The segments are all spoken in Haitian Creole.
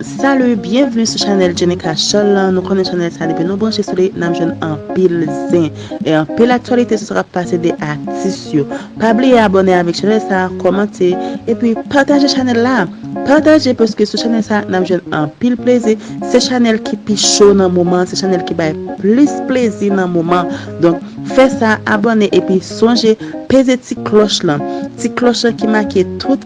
Salut, bienvenue sou chanèl Djenika Chòl lan, nou konnen chanèl sa depi nou branche sou li nap jwenn anpil zen e anpil aktyalite sou sa kap pase de atis yo. Pa bliye abòne avèk chanèl sa, kòmante epi pataje chanèl la. Pataje paske sou chanèl sa nap jwenn anpil plezi, se chanèl ki pi cho nan moman an, se chanèl ki bay plis plezi nan moman an. Donk fè sa, abòne epi sonje peze ti klòch lan, ti klòch lan ki make tout.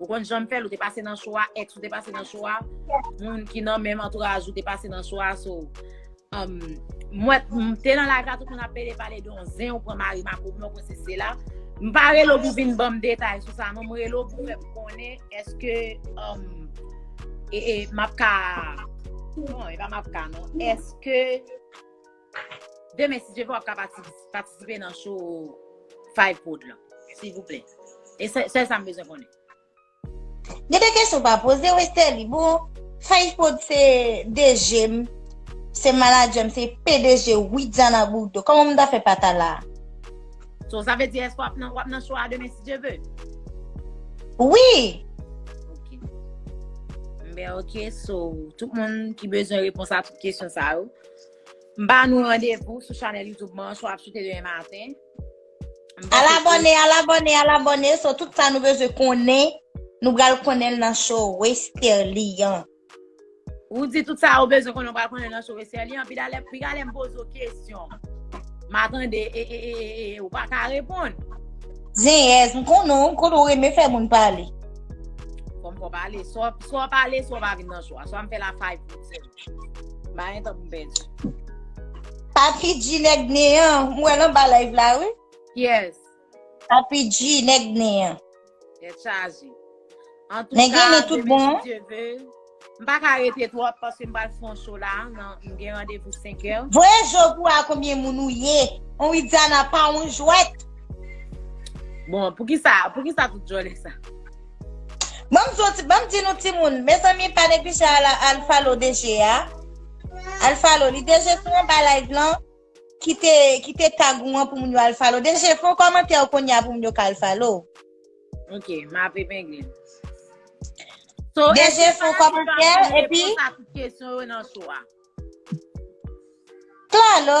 Ou konn janm fèl ou te pase nan chwa, ex ou te pase nan chwa, moun ki nan menm antouraj ou te pase nan chwa, so, um, mwen, m te nan live la tout moun ap pede pale don zen ou pran mari ma pou mwen kon se se la. M pa relo pou vin banm detay sou sa, non m relo pou fèm konnen eske, um, e, e, map ka, non, e pa map ka, non, eske, Demen si Dye vle wap ka patisipe nan show 5 prod lan. Silvouplè. E sèl sa m bezwen konnen. Gen de kesyon pa poze Westerlie. Bon 5 prod se DG m, se manager m, se pdg Widiana Bourdeau. Kòman m ta fè pa ta la? So sa vle di èske wap nan show a demen si Dye vle? Wi! Ok. Ben ok so tout moun ki bezwen repons a tout kesyon sa yo. M ba nou randevou sou chanèl YouTube mwen sou ap sute demen maten. Al abone, al abone, al abone. So tout sa nou bezwen konnen, nou bral konnen nan show Westerlie an. Ou di tout sa ou bezwen konnen, ou bral konnen nan show Westerlie an. Pi dalè, pi galè m poze ou kesyon. M atande, e, e, e, e, e, ou pa ka reponn. Zenyèz, m konnen ou, m konnen ou renmen fè moun pale. Fòm fò pale, so pa pale, so pa vin nan show a. So a m fè la fay pou ou. Mayen tankou bèj. Papi G nèg neyan, mwen lan ba live la wi. Yes. Papi G nèg neyan. Nèg chaje. An tou ka, demen bon. si Dieu veut. M pa ka rete twòp paske m pral fon cho la nan m gen randevou 5 è. Voye je w pou wè a konbyen moun ou ye. On Widiana pa on jwèt. Bon, pou ki sa, pou ki sa tout jòlè sa? Banm zoti banm di nou timoun mezanmi pa neglije ala al falo DG a al falo li DG sou anba live lan kite kite tag ou an pou moun yo al falo DG fon kòmantè ou konya pou moun yo ka al falo ok map epengle so DG fon kòmantè epi kesyon yo nan sou a klalo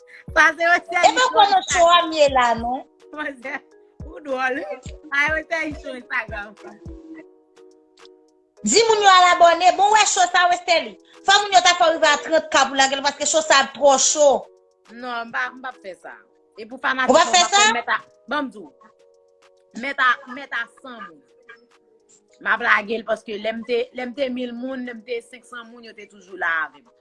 Pase yo se E pa kono cho a m ye la non. Manzè, ou dwòl. A yo se yi sou Instagram. Di moun yo al abone. Bon wè cho sa wè seli. Fò moun yo ta fò rive a 30 ka pou lagel paske cho sa ap trò cho. Non, m pa m pa fè sa. E pou fanatik Ou pa fè sa? Meta, banm di ou. Meta, meta 100 moun. M ap lagel paske lèm te, lèm te 1000 moun, lèm te 500 moun yo te toujou la avèm.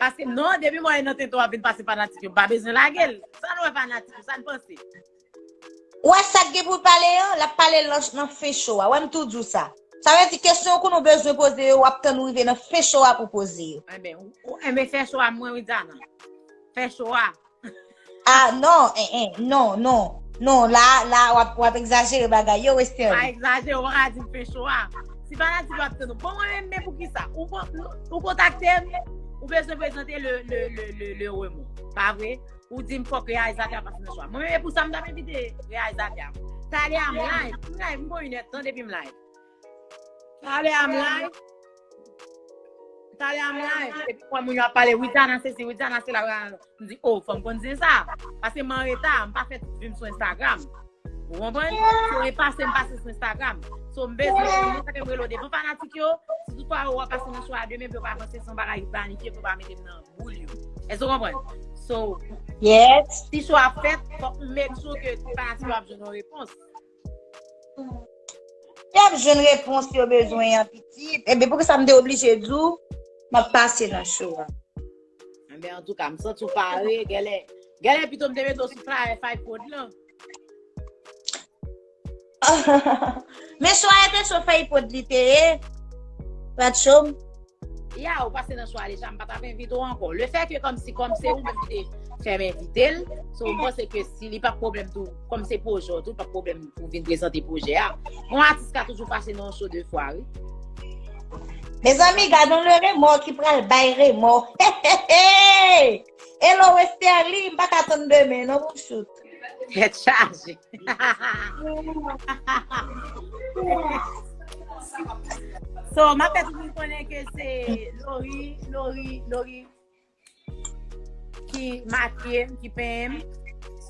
Paske non, depi mwen nan tenten wap vin pase fanatik yo, m pa bezwen lage l. Sa nou wè fanatik yo, sa n panse? Ou wè sa k gen pou l pale an, l ap pale l nan fen show a. Wè m tou di w sa. Sa vle di kesyon yo kou nou bezwen poze yo, w ap tann ou rive nan fen show a pou w poze yo. Enben, enben fè show a mwen Widiana. Fè show a. Ah non, eh eh, non, non. Non, la, la, wap, wap egzajere bagay yo, Western. Pa egzajere, wap ka di Pencho a. Ti fanatik yo ap tann ou. Bon, mwen menm, men pou ki sa? Ou, ou kontakte m, ou bezwen prezante le, le, le, le, le remon. Pa vre? Ou di m fòk reyalizatè a pa fè nan chwa. Mwen menm, e pou sa m tap evite reyalizatè a. Talè a m live, m live, m bon inè tan depi m live. Tale am live. Tale am live. Se pou mwen moun yo ap pale Widiana se si Widiana se la. M di oh fòm kon di sa. Pase m an reta. M pa fè tout vim sou Instagram. Ou konpwen? Sou e pase m pase sou Instagram. Sou m bezwen pou mwen sa ke m relo devan fanatik yo. Si tout pa ou wap pase nan sou a demen pou yo pa panse son bagay ki planifye pou yo pa mete m nan boul yo. E sou konpwen? So. Yes. Si sou a fèt fòk m make sure ke fanatik yo ap jwenn yon repons. Yap jwenn repons yo bezwen an pitit. Ebe pou ki sa m te oblije di w m ap pase nan cho a. Anben antouka m santi w pare gèlè. Gèlè pito m te mete w sou flyer Fight Code lan. Men cho a e te cho Fight Code li te ye. Prat cho m. Ya ou pase nan chwa deja, m pa tap envite ou anko. Le fè ke kom si kom se ou menm ki te fè m envite l, so m panse ke si li pa problem tou, kom se pwojè ou tou, pa problem pou vin prezante pwojè a. Yon atis ka toujou pase nan yon show 2 fwa, wi. Mezanmi, gadon le remò ki pral bay remò. Hello Westerlie, m pa ka tann demen non pou m shoot. Tèt chaje. So, m ap fè tout moun konnen ke se Lori, Lori, Lori ki makye m, ki pen m.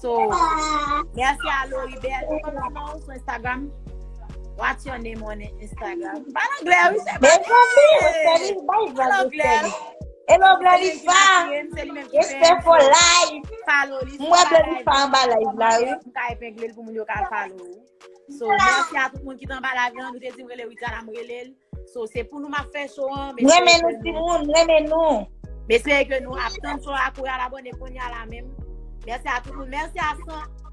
So, merci a Lori Bel. Ki konn nan ou sou Instagram? What's your name on Instagram? Pal anglè, oui, se pa Mwen anglè. konbi, mwen konbi, bay Pal vlog anglè. anglè. Hello Blolifa, jespè fò live. Mwen Blolifa anba live la wi. Mwen ka epengle l pou moun yo ka follow ou. So, mèsi a tout moun ki t anba live la, nou te di m rele Widiana m rele l. So, se pou nou m ap fè show an. M renmen nou ti moun, m renmen nou. M espere ke nou ap tann show a kou y al abone kounye a la menm. Mèsi a tout moun, mèsi a 100.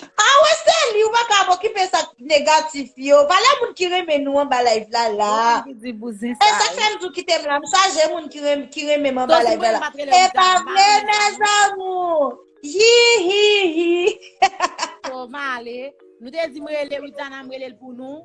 Ah wè se li ou paka ap okipe sak negatif yo valè moun ki renmen nou anba live la la esak fèm di w kitem la m chaje moun ki renmen m anba live la la epa vre mes amours hihihi Toma ale nou te di m rele Ritana m rele l pou nou.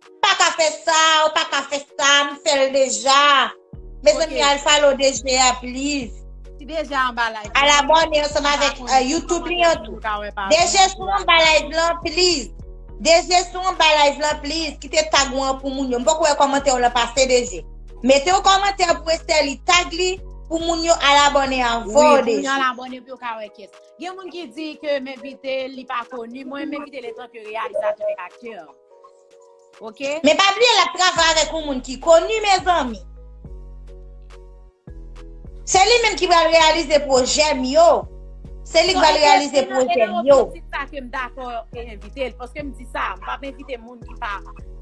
M paka fè sa, ou paka fè sa, m fè l deja. Mezanmi al follow DG a please. Ti DG a anba live lan. Al abone ansanm avèk YouTube li an tou. DG sou anba live lan please. DG sou anba live lan please. Kite tag ou an pou moun yo. M poko wè kòmantè w lan pase DG. Mete yon kòmantè pou Esterlie tag li pou moun yo al abone avèw DG. Wi pou moun yo al abone pou yo ka wè kès. Gen moun ki di ke m envite l li pa koni. Mwen m envite l etanke reyalizatè ak aktè. Ok. Men pa bliye lap travay avèk yon moun ki koni mezanmi. Se li menm ki pral reyalize pwojè m yo. Se li k pral reyalize pwojè m yo. Se sa ke m dakò e envite l. Paske m di sa, m pa envite moun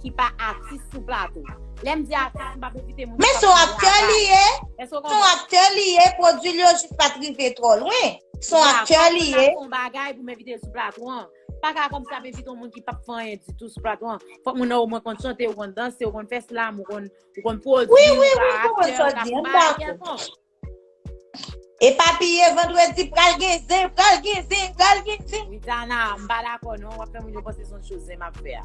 ki pa atis sou plato. Lè m di atis, m pa envite moun ki pa. Men son aktè li ye. Son aktè li ye. Pwodwi l yo jis pat rive twò lwen. Son aktè li ye. Mwen pa konn bagay pou m envite l sou plato an. Pa ka kòm sa ap envite yon moun ki pap fè anyen ditou sou plato an. Fòk moun nan omwen konn chante, ou konn danse, ou konn fè slam, ou konn ou konn pwodwi, Oui, oui, ou ka oui, konprann aktè, sa ou w ka di, m bay dakò. kèlkonk. E pa bliye vandredi pral gen zen, pral gen zen, pral gen zen. Widiana, m pa dakò non, wap fè moun yo panse son cho zen map fè a.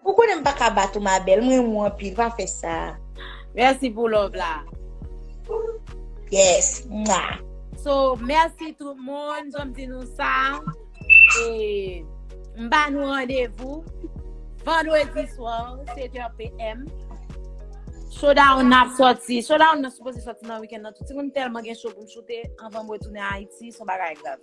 Ou konnen m paka bat ou ma belle, m renmen w anpil, pa fè sa. Merci pou love la. Yes mwah. So merci tout moun, jan m di nou sa, e m ba nou randevou Vandredi soir 7 heures PM. Showdown nan ap soti, showdown nan sipoze soti nan weekend nan tou, timoun m telman gen show pou m choute anvan mwen tounen Ayiti, son bagay grav.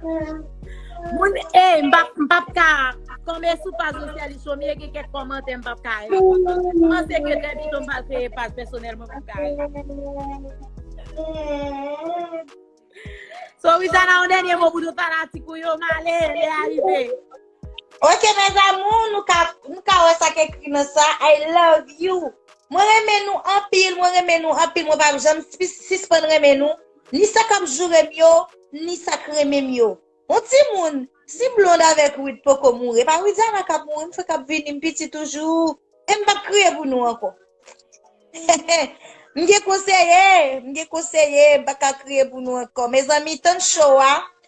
Moun ey mpap mpap ka tonbe sou paj Jocelie Chomie gen kèk kòmantè mpap ka reponn. Mpanse ke trè bito mpral kreye paj pèsonèl mwen pou Kare. So Rizana yon dènye mo pou tout fanatik ou yo, male lè a rive. Ok mes amours nou ka nou ka wè sa k ekri nan sa I love you mwen renmen nou anpil mwen renmen nou anpil mwen pap janm sispann renmen nou. Ni sa kap joure m yo, ni sa k renmen m yo. Bon timoun, si Blonde avèk Wid poko mouri, e pa Widiana kap mouri, m fenk ap vini, m piti toujou, e m pap kriye pou nou ankò. Hehe, m gen konseye, m gen konseye, m pa ka kriye pou nou ankò. Mezanmi, tann show a,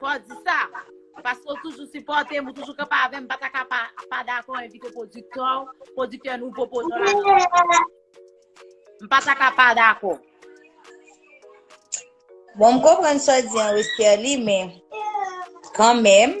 Fò w di sa, paske w toujou sipòte m, ou toujou kanpe avè m, m pa ta ka pa dakò envite pwodiktè w, pwodiktè nouvo pwojè w la nan. M pa ta ka pa dakò. Bon, m konprann sa w di an Westerlie, men, kanmenm,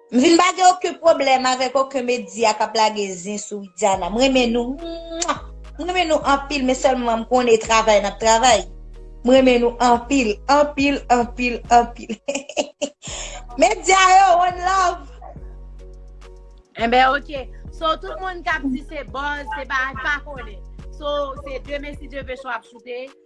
M vin pa gen oken pwoblèm avèk oken medya kap lage zin sou widiana m renmen nou mwah m renmen nou anpil men sèlman m konnen e travay nap travay m renmen nou anpil anpil anpil anpil heheheh medya yo one love. Enben ok so tout moun kap di se buzz se pa pa konnen so se demen si Dieu veut show ap choute.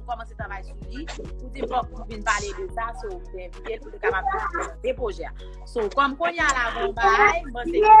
pou kòmanse travay sou li, pou te pòp pou vin pale de sa, sou te envite l pou te kapab de pwojè. Sou kòm konya la, bon bay, mwen se ki pa.